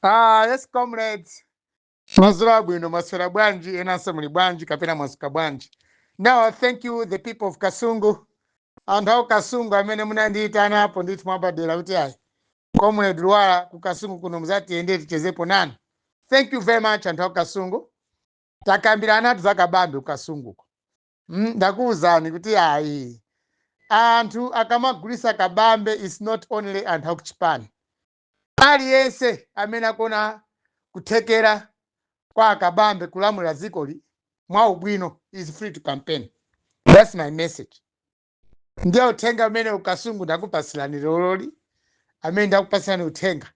Ah, yes comrades. Madzulo abwino maswera bwanji enanso muli bwanji kapena mwadzuka bwanji. Now thank you the people of Kasungu. Anthu a ku Kasungu amene munandiitanapo ndithu mwabadera kuti ayi. Comrade Lwara ku Kasungu kuno muzatiyende tichezepo nanu. Thank you very much anthu a ku Kasungu. Takambiranatu za kabambe ku Kasunguko. Mm, ndakuuzani kuti ayi. Anthu akamagulisa kabambe is not only anthu akuchipani. Aliyense amene akuona kuthekera kwa a Kabambe kulamulira dzikoli mwa ubwino is free to campaign. That's my message. Ndiye uthenga umene ku Kasungu ndakupatsirani leroli, amene ndakupatsirani uthenga.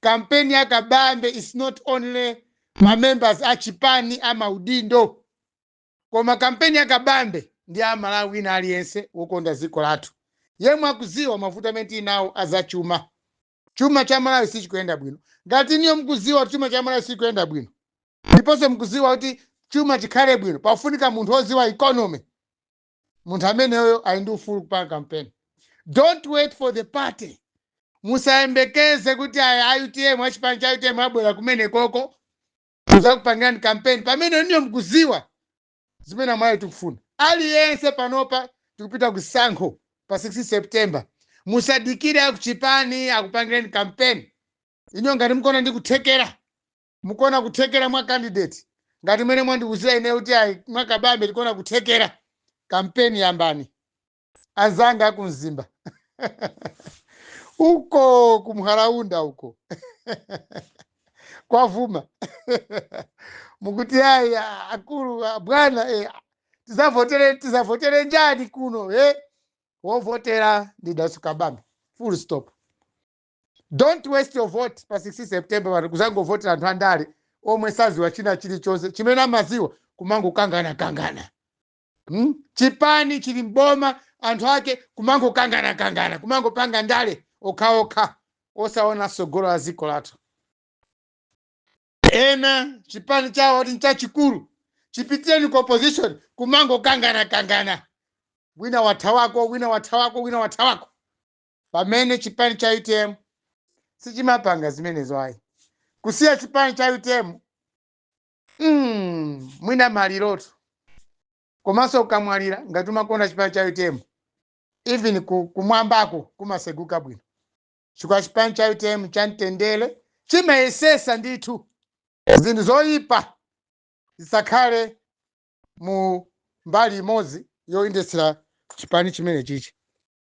Kampeni ya Kabambe is not only ma members a chipani a maudindo. Koma kampeni ya Kabambe ndi ya Mmalawi wina aliyense wokonda dziko lathu, yemwe akudziwa mavuto amene tili nawo a zachuma. Chuma cha Malawi sichikuyenda bwino. Ngati inuyo mukudziwa kuti chuma cha Malawi sichikuyenda bwino, ndiponso mukudziwa kuti chuma chikhale bwino pakufunika munthu wodziwa economy, munthu ameneyo ali ndi ufulu kupanga kampeni. Don't wait for the party. Musayembekeze kuti a utm, a chipani cha utm abwera kumenekoko. kuzakupangirani kampeni pamene inuyo mkuziwa zimene amalawi tikufuna aliyense panopa tikupita kusankho pa 16 september musadikire akuchipani akupangireni kampeni inuyo ngati mukuona ndi kuthekera mukuona kuthekera mwa candidate ngati mene mwandiuzira ine kuti ayi mwa kabambe tikuona kuthekera kampeni yambani anzanga aku mzimba uko kumharaunda uko kwavuma mukuti ayi a- akulu a- bwana eh, tizavotere tizavotere njani kuno eh? wovotera ndi dalitso kabambe full stop don't waste your vote pa 16 september pano kuzangovotera anthu andale omwe saziwa china chilichonse chimene amaziwa kumangokanganakangana Hmm? chipani chili mboma anthu ake kumangokanganakangana kumangopanga ndale zokhazokha osaona tsogolo la dziko lathu ena chipani chawo ati nchachikulu chipitireni ku opposition kumangokanganakangana wina wathawako wina wathawako wina wathawako pamene chipani cha utm sichimapanga zimenezo ayi kusiya chipani cha utm mm, mwina malirotu komanso ukamwalira ngati umakonda chipani cha utm even ku- kumwambako kumaseguka bwino chifukwa chipani cha utm cha mtendere chimayesesa ndithu zinthu zoyipa zisakhale mu mbali imodzi yoyendetsera chipani chimene chichi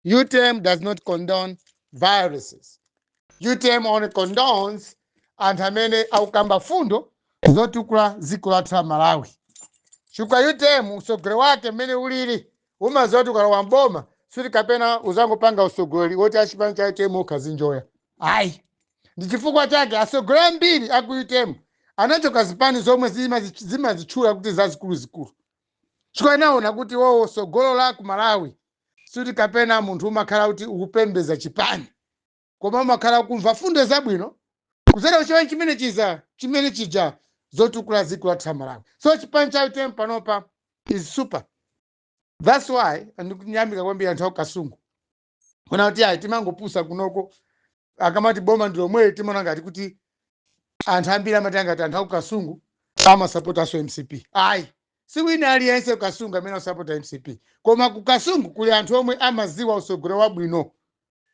UTM does not condone violence. UTM only condones anthu amene akukamba fundo zotukula dziko lathu la Malawi. Chifukwa UTM usogoleri wake mmene ulili umaziwa kuti ukalowa m'boma sikuti kapena uzangopanga usogoleri woti achipani cha UTM okha azinjoya. Ayi. Ndi chifukwa chake asogoleri ambiri aku UTM anachoka zipani zomwe zimazi- zimazitchula kuti zazikuluzikulu. Chifukwa anaona kuti iwowo tsogolo la ku Malawi sikuti kapena munthu umakhala kuti ukupembeza chipani koma umakhala ukumva fundo zabwino kuzera kuchipani chimene chiza chimene chija zotukula dziko lathu la Malawi so chipani cha UTM panopa is super that's why ndikuyamika kwambiri anthu a ku Kasungu kunena kuti ayi timangopusa kunoko akamati boma ndi lomweli timaona ngati kuti anthu ambiri amati angati anthu aku kasungu amasapotanso mcp ayi si wina aliyense ku kasungu amene akusapota mcp koma ku kasungu kuli anthu omwe amaziwa usogoleri wabwino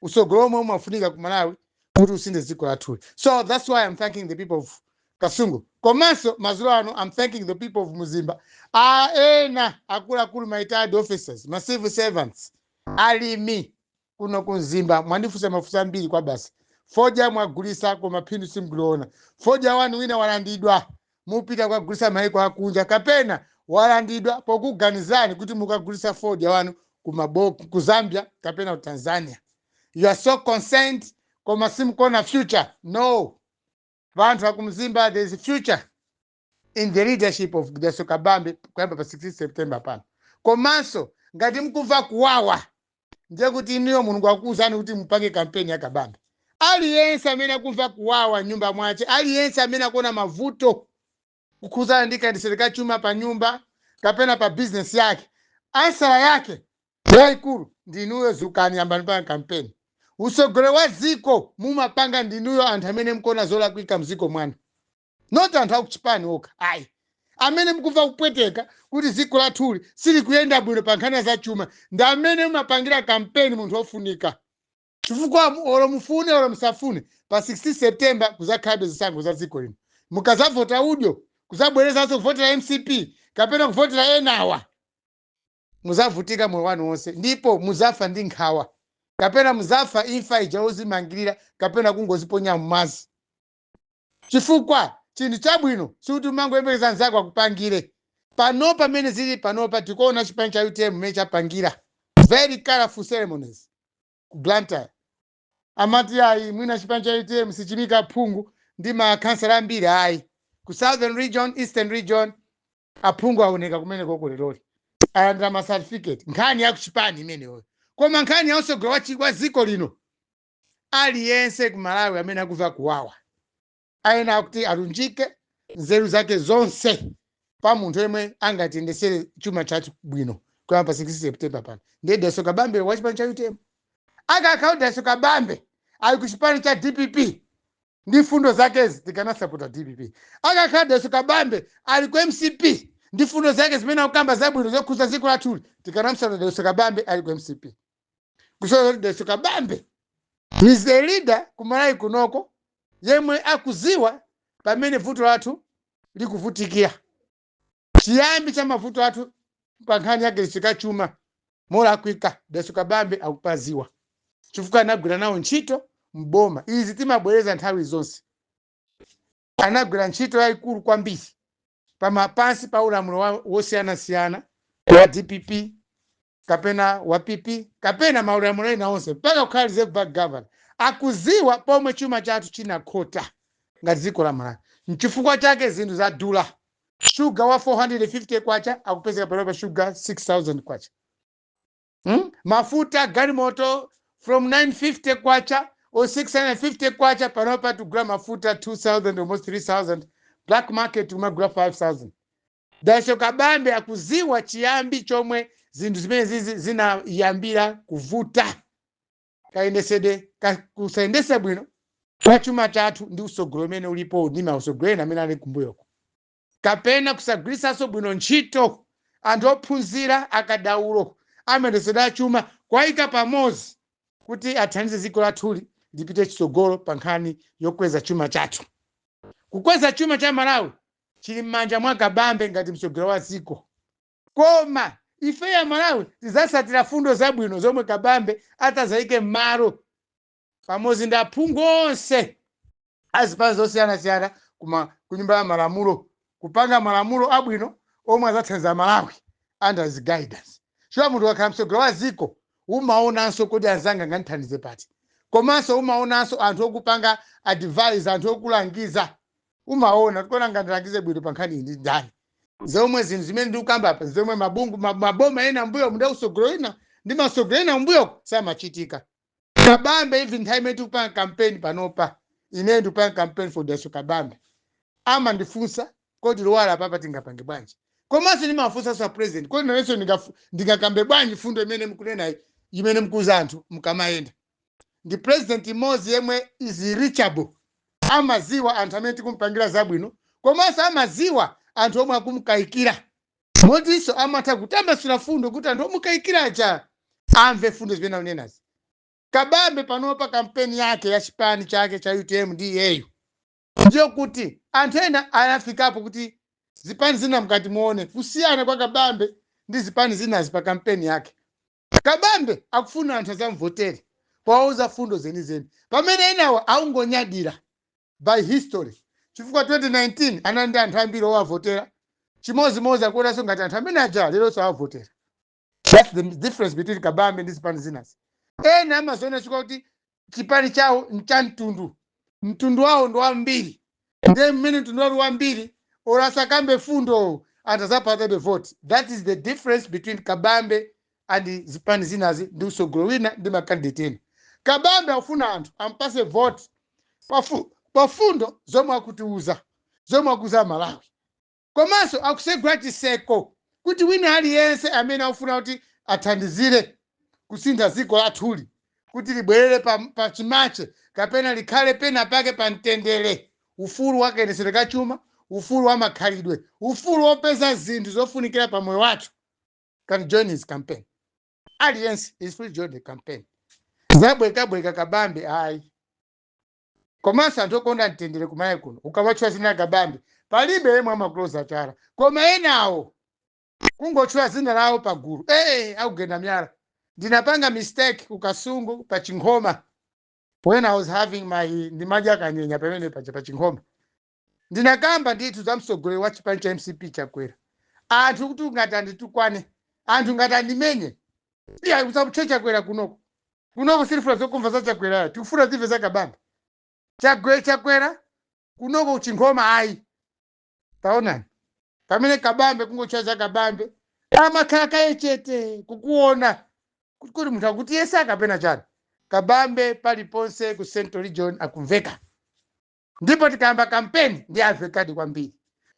usogoleri omwe umafunika ku malawi kuti usinthe dziko lathuli so that's why i'm thanking the people of kasungu komanso madzulo ano i'm thanking the people of mzimba a ena akuluakulu ma retired officers ma civil servants alimi kuno ku mzimba mwandifunsa mafunso ambiri kwabasi fodya mwagulisa koma phindu simkuliona fodya wanu wina walandidwa mukupita kukagulisa maiko akunja kapena walandidwa pokuganizirani kuti mukagulisa fodya wanu ku Mabo- ku zambia kapena ku tanzania you are so concerned koma simkuona future no anthu akumzimba there is future in the leadership of Dalitso Kabambe kuyamba pa 16 September pano. Komanso ngati mkumva kuwawa ndiye kuti inuyo Mulungu akukuuzani kuti mupange kampeni ya Kabambe. Aliyense amene akumva kuwawa mnyumba mwache, aliyense amene akuona mavuto kukhuzana ndi kayendetsedwe ka chuma pa nyumba kapena pa bizinesi yake, ansala yake yaikulu ndi inuyo. Dzukani, yambani kupanga kampeni. Utsogoleri wa dziko mumapanga ndinuyo, anthu amene mkuona zolakwika mdziko mwanu. not anthu akuchipani okha ayi amene mukumva kupweteka kuti dziko lathuli silikuyenda bwino pa nkhani ya zachuma ndi amene mumapangira kampeni munthu wofunika chifukwa mu- olo mufune olo musafune pa 16 september kuzakhalabe zisankho za dziko lino mukazavota udyo kuzabwerezanso kuvotera mcp kapena kuvotera enawa muzavutika moyo wanu wonse ndipo muzafa ndi nkhawa kapena muzafa imfa ija yozimangirira kapena kungoziponya m'madzi chifukwa chinthu chabwino sikuti umangoyembekeza anzako akupangire pano pamene zili panopa tikuona chipani cha utm mmene chapangira very colorful ceremonies ku blantyre amati ayi mwina chipani cha utm sichimika aphungu ndi makhansala ambiri ayi ku southern region eastern region aphungu aoneka kumene koko lero ali alandira ma certificate nkhani ya kuchipani imeneyoyo koma nkhani ya usogolo wa chi- wa dziko lino Aliyense ku Malawi amene akumva kuwawa ayenera kuti alunjike nzeru zake zonse pa munthu yemwe angatiyendesere chuma chathu bwino kuyamba pa 16 September pano ndiye Daso Kabambe wa chipani cha UTM akakhala Daso Kabambe ali ku chipani cha DPP ndi mfundo zakezi tikanamsapota DPP akakhala Daso Kabambe ali ku MCP ndi mfundo zake zimene akukamba zabwino zokhuza dziko lathuli tikanamsapota Daso Kabambe ali ku MCP kuti so daso kabambe he's a leader ku malawi kunoko yemwe akuziwa pamene vuto lathu likuvutikira chiyambi cha mavuto athu pa nkhani yogwirisika chuma molakwika daso kabambe akupaziwa chifukwa anagwira nawo ntchito mboma izi timabwereza nthawi zonse anagwira ntchito yayikulu kwambiri pama pansi pa ulamuliro wa- wosiyanasiyana wa dpp kapena wa PP kapena maulamuliro ena onse mpaka kukhala Reserve Bank Governor akudziwa pomwe chuma chathu chinakhota ngati dziko la Malawi. N'chifukwa chake zinthu zadula. Shuga wa K450 akupezeka panopa shuga K6,000. Hmm? Mafuta galimoto from K950 or K650 panopa tikugula mafuta K2,000 almost K3,000. Black market tumagula K5,000. Dalitso Kabambe akudziwa chiyambi chomwe zinthu zimenezizi zinayambira kuvuta kayendetsedwe ka kusayendetsa bwino kwa chuma chathu ndi utsogolo umene ulipo ndi mautsogoleri ena amene ali kumbuyoko kapena kusagwiritsanso bwino ntchito anthu ophunzira akadaulo a mayendetsedwe a chuma kuwayika pamodzi kuti athandize dziko lathuli lipite chitsogolo pa nkhani yokweza chuma chathu kukweza chuma cha malawi chili m'manja mwa kabambe ngati mtsogoleri wa dziko koma ifeyo amalawi tizatsatira fundo zabwino zomwe kabambe atazayike m'malo pamodzi ndi aphungu onse a zipani zosiyanasiyana kuma kunyumba ya malamulo kupanga malamulo abwino omwe azathandiza malawi under his guidance chifukwa munthu akakhala mtsogoleri wa dziko umaonanso kuti anzanga angandithandize pati komanso umaonanso anthu okupanga advise anthu okulangiza umaona kuti koma angandilangize bwino pa nkhani iyi ndi ndani zomwe zinthu zimene ndikukamba apa zomwe mabungu ma- maboma ena mbuyo mnda usogolo ina ndi masogolo ena mbuyo samachitika kabambe even nthawi imene tikupanga kampeni panopa ineyo ndikupanga kampeni for Dalitso Kabambe amandifunsa kodi Luwala apapa tingapange bwanji komanso ndimafunsanso a president kodi nanenso ndingafu- ndingakambe bwanji fundo imene mukunenayi imene mukuuza anthu mukamayenda ndi president mmodzi yemwe is reachable amaziwa anthu amene tikumpangira zabwino komanso amaziwa anthu omwe akumkayikira motinso amatha kutambasula fundo kuti anthu omukayikira aja amve fundo zimene akunenazi kabambe panopa kampeni yake ya chipani chake cha utm ndi iyeyo ndiyo kuti anthu ena anafikapo kuti zipani zina mkati muone kusiyana kwa kabambe ndi zipani zinazi pa kampeni yake Kabambe akufuna anthu azamvotere powauza fundo zenizeni pamene enawa akungonyadira by history chifukwa 2019 anali ndi anthu ambiri owavotera chimozimozi akuonanso ngati anthu amene aja leronso awavotera thats the difference between Kabambe ndi zipani zinazi ena amaziona chifukwa kuti chipani chawo ncha mtundu mtundu wawo ndi wambiri ndiye mmene mtundu wawo uli wambiri or asakambe fundo anthu azapatsabe vote that is the difference between kabambe and zipani zinazi ndi usogolo wina ndi makandidate ena kabambe akufuna anthu ampase vote pafu- pafundo zomwe akutiuza zomwe akuuza Malawi komanso akusegula chiseko kuti wina aliyense amene akufuna kuti athandizire kusintha dziko lathuli kuti libwerere pa, pa chimache kapena likhale pena pake pa mtendere ufulu wa kayendetsedwe ka chuma ufulu wa makhalidwe ufulu wopeza zinthu zofunikira pa moyo wathu can join his campaign aliyense is free to join the campaign zabwekabweka kabambe ayi komanso anthu okonda mtendere kumalawi kuno ukamatchula zina la Kabambe palibe yemwe amakuloza chala koma enawo kungotchula zina lawo pagulu ee akugenda myala ndinapanga mistake ku kasungu pa chinkhoma when i was having my ndimadya kanyenya pamene paja pa chinkhoma Ndinakamba ndithu za mtsogoleri wa chipani cha mcp Chakwera anthu kuti ngati anditukwane anthu ngati andimenye iya usamutche Chakwera kunoko kunoko sitifuna zokumva za Chakwerayo tikufuna timve za Kabambe Chagwe Chakwera kunoko kuchinkhoma ayi taonani pamene Kabambe kungotcha za Kabambe amakhala kaye chete kukuona kuti kodi munthu akutiyesa kapena chani Kabambe paliponse ku Central Region akumveka ndipo tikayamba kampeni ndi amvekadi kwambiri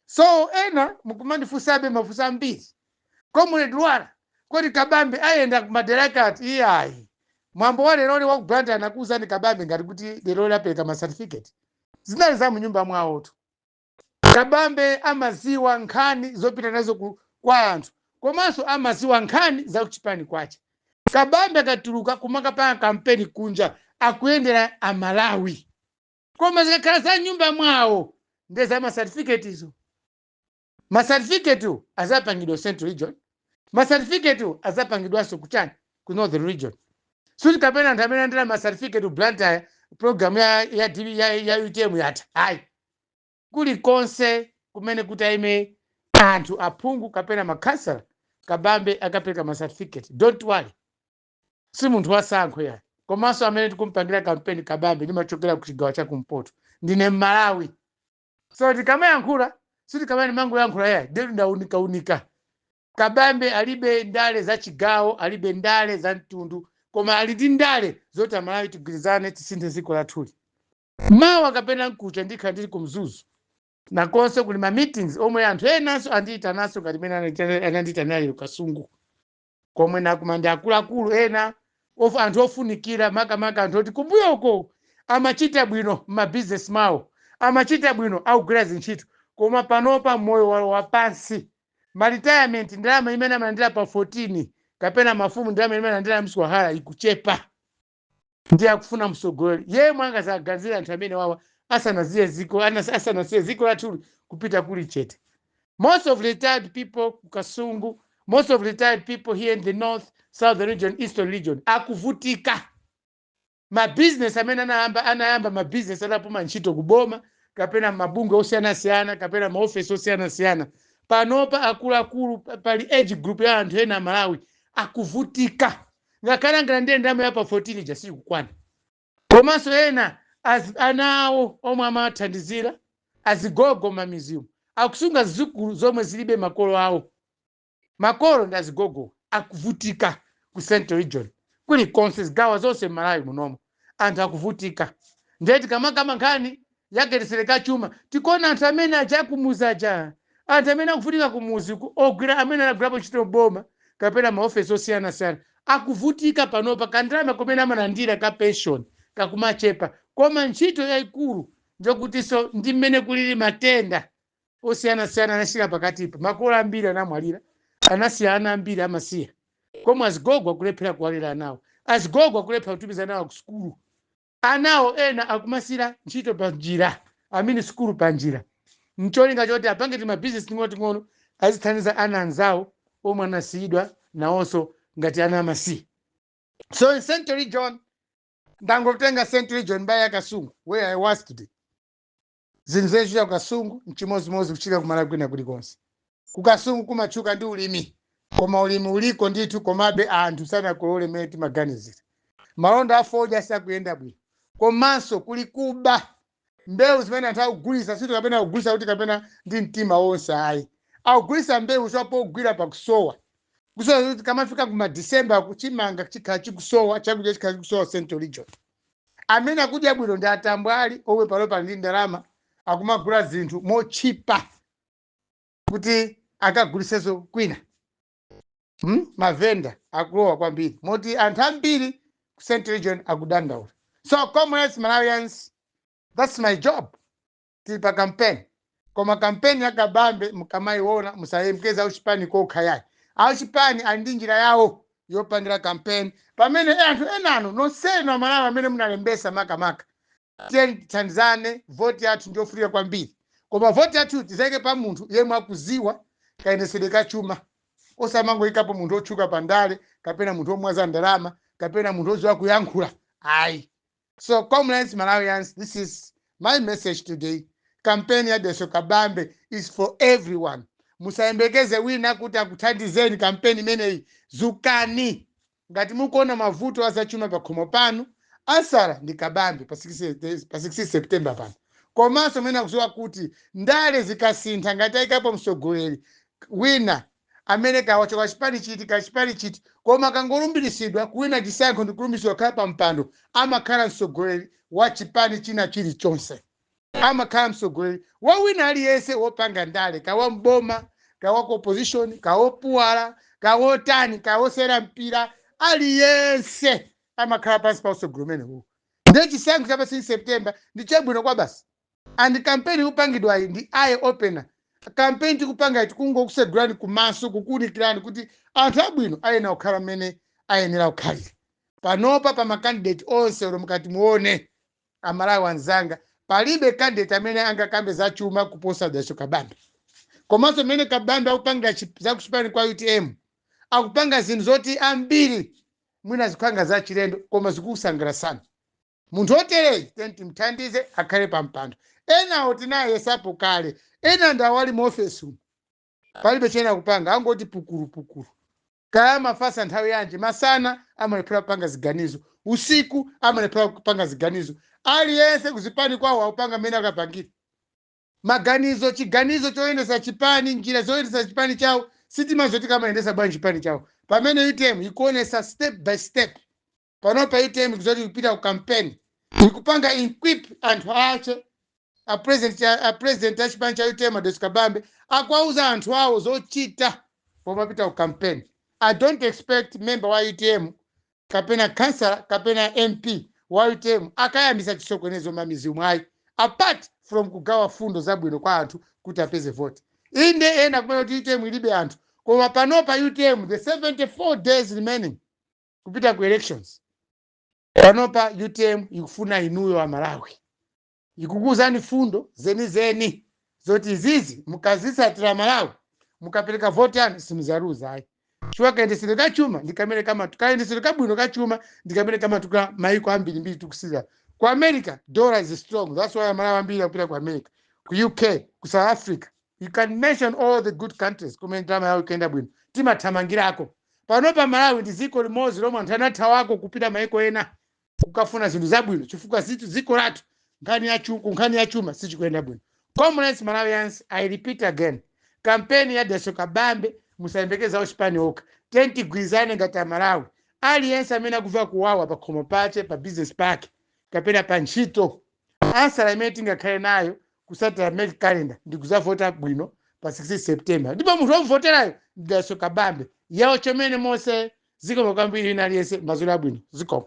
so ena mukumandifunsabe mafunso ambiri comrade lwara kodi kabambe ayenda kumadera ake ati iyayi mwambo wa leroli wa kublanda anakuwuzani kabambe ngati kuti leroli apereka ma certificate zinali za munyumba mwawotu kabambe amaziwa nkhani zopita nazo ku- kwa anthu komanso amaziwa nkhani za kuchipani kwache kabambe akatuluka kumakapanga kampeni kunja akuyendera amalawi koma zikakhala za mnyumba mwawo nde za masatifiketizo masatifiketiwo azapangidwa central region masatifiketiwo azapangidwanso kuchani ku northern region sikuti kapena anthu amene alandira masatifiketi blantyre program ya, ya, DB ya, ya utm yatha ayi kulikonse kumene kutaime anthu aphungu kapena makhansala kabambe akapereka masatifiketi don't worry si munthu wasankho yayi komanso amene tikumpangira kampeni kabambe ndimachokera ku chigawo cha kumpoto ndine mmalawi so tikamayankhula sikuti timangoyankhula yayi ndekuti ndaunikaaunika kabambe alibe ndale za chigawo alibe ndale za mtundu koma ali ndi ndale zoti amalawi tigwirizane tisinthe dziko lathuli mawa kapena mkucha ndikhala ndili ku mzuzu nakonso kuli ma meetings omwe anthu enanso andiyitananso ngati mene anandiyitana lero kasungu komwe nakumana ndi akuluakulu ena anthu ofunikira makamaka anthu oti kumbuyoko amachita bwino m'mabizinesi mawo amachita bwino akugwira zintchito koma panopa moyo walowa pansi ma retirement ndalama imene amalandira pa 14 kapena mafumu ndalama imene amalandira mswahara ikuchepa ndiye akufuna mtsogoleri yemwe angazaganizire anthu amenewawa asanaziye ziko anas- asanasiye ziko lathuli kupita kuli chete most of retired people ku kasungu most of retired people here in the north southern region eastern region akuvutika mabizinesi amene anayamba anayamba mabizinesi anapuma ntchito kuboma kapena mabungwe osiyanasiyana kapena maofesi osiyanasiyana panopa akuluakulu pa- pali age group ya anthu ena amalawi akuvutika ngakhale angalandire ndalama ya pa 14 ija siyikukwana komanso ena az, ana awo omwe amathandizira azigogo m'mamizimu akusunga zidzukulu zomwe zilibe makolo awo makolo ndi azigogo akuvutika ku central region kulikonse zigawo zonse m'malawi munomo anthu akuvutika ndiye tikamakamba nkhani yakayendetsedwe ka chuma tikuona anthu amene aja akumuzi aja anthu amene akuvutika kumuzi ku- ogwira amene anagwirapo ntchito m'boma kapena maofesi osiyanasiyana akuvutika panopa kandalama komene amalandira ka pension kakumachepa koma ntchito yayikulu njokutinso ndi mmene kulili matenda osiyanasiyana anachita pakatipa. Makolo ambiri anamwalira, anasiya ana ambiri amasiye, komwe azigogo akulephera kuwalera anawo, azigogo akulephera kutumiza anawo kusukulu, anawo ena akumasira ntchito panjira, amini sukulu panjira, ncholinga choti apange timabizinesi ting'onoting'ono azithandiza ana anzawo omwe anasiyidwa nawonso ngati ana amasiye. So in Central Region, ndangotenga Central Region mbali ya Kasungu where I was today. zinthu zimene zichitika ku kasungu nchimodzimodzi kuchitika ku malawi kwina kulikonse ku kasungu kumatchuka ndi ulimi koma ulimi uliko ndithu komabe anthu sanakolole mmene timaganizira malonda a fodya sakuyenda bwino komanso kuli kuba mbewu zimene anthu akugulitsa sikuti kapena akugulitsa kuti kapena ndi mtima wonse ayi akugulitsa mbewu zawo pogwira pakusowa kusowa kuti tikamafika kuma december uku chimanga chikhala chikusowa chakudya chikhala chikusowa central region Amene akudya bwino ndi atambwali omwe panopa ndi ndalama akumagula zinthu motchipa kuti akagulisenso kwina. Hmm? Mavenda akulowa kwambiri moti anthu ambiri ku Central Region akudandaula. So comrades Malawians, that's my job. tili pa kampeni koma kampeni ya kabambe mukamayiona musayembekeze auchipani kokha yayi auchipani ali ndi njira yawo yopangira kampeni pamene e anthu enanu nonsenu amalawi amene munalembesa makamaka tiyeni tithandizane voti yathu ndiyofunika kwambiri koma voti yathu tizayike pa munthu yemwe akuziwa kayendesedwe ka chuma osamangoyikapo munthu otchuka pa ndale kapena munthu omwaza ndalama kapena munthu oziwa kuyankhula ayi So comrades Malawians this is my message today. Kampeni ya Deso Kabambe is for everyone. Musayembekeze wina kuti akuthandizeni kampeni imeneyi. Zukani ngati mukuona mavuto azachuma pakhomo panu asala ndi Kabambe pa 16 September pano. Komanso amene akuziwa kuti ndale zikasintha ngati ayikapo mtsogoleri wina amene kaya wachoka chipani chiti kaya chipani chiti koma akangolumbilisidwa kuwina chisankho ndikulumbirisidwa kukhala pa mpando amakhala mtsogoleri wa chipani china chilichonse. Amakhala mtsogoleri wa wina aliyense wopanga ndale kaya wa m'boma kaya wa ku opposition kaya wopuwala kaya wotani kaya wosewera mpira aliyense amakhala pansi pa utsogoleri umenewu. Ndiye chisankho cha pa 16 September ndi chabwino kwabasi. And campaign ikupangidwayi ndi eye opener. Campaign tikupangayi tikungokusegulani kumaso kukuunikirani kuti anthu abwino ayenera kukhala mmene ayenera kukhalira. Panopa pa ma candidate onse olo mukati muone a Malawi anzanga palibe candidate amene angakambe za chuma kuposa Dalitso Kabambe. Komanso mmene Kabambe akupangira za kuchipani kwa UTM akupanga zinthu zoti ambiri mwina zikukhala ngati zachilendo koma zikukusangalatsani. munthu otereyi tiyeni timthandize akhale pa mpando enawo tinayesapo kale ena ndawa ali mu ofesi umu palibe chomwe akupanga angoti pukulupukulu kaya amafatsa nthawi yanji masana amalephera kupanga ziganizo usiku amalephera kupanga ziganizo aliyense kuzipani kwawo akupanga mmene akapangira maganizo chiganizo choyendesa chipani njira zoyendesa chipani chawo sitimaziwa zoti akumayendesa bwanji chipani chawo pamene utm ikuonesa step by step panopa utm isanati ipite ku campaign ikupanga equip anthu ache a president a president a chipani cha utm a dalitso kabambe akuwauza anthu awo zochita pomapita ku campaign i don't expect member wa utm kapena councillor kapena mp wa utm akayambisa chisokonezo mmamidzimu ayi apart from kugawa fundo zabwino kwa anthu kuti apeze vote inde ena akumanena kuti utm ilibe anthu koma panopa utm the 74 days remaining kupita ku elections panopa utm ikufuna inuyo a malawi ikukuuzani fundo zenizeni zoti izizi mukazitsatira malawi mukapereka voti yanu simuzaluza ayi chifukwa kayendetsedwe ka chuma ndi kamene kamatukula kayendetsedwe kabwino ka chuma ndi kamene kamatukula maiko ambirimbiri tikusirira ku america dollar is strong that's why amalawi ambiri akupita ku america ku uk ku south africa You can mention all the good countries kumene ndalama yawo ikuyenda bwino timathamangirako. Panopa Malawi ndi dziko limodzi lomwe anthu anathawako kupita maiko ena kukafuna zinthu zabwino chifukwa choti dziko lathu nkhani ya chu- ku nkhani ya chuma sichikuyenda bwino. Comrades Malawians, I repeat again, kampeni ya Dalitso Kabambe musayembekeze a chipani okha. Tiyeni tigwirizane ngati Amalawi. Aliyense amene akuva kuwawa pakhomo pache, pa business pake kapena pa ntchito ansala imene tingakhale nayo kusatira mark calendar ndi kuzavota bwino pa 16 september ndipo munthu womuvoterayo ndi dalitso kabambe yewo chomene monse zikomo kwambiri wina aliyense madzulo abwino zikomo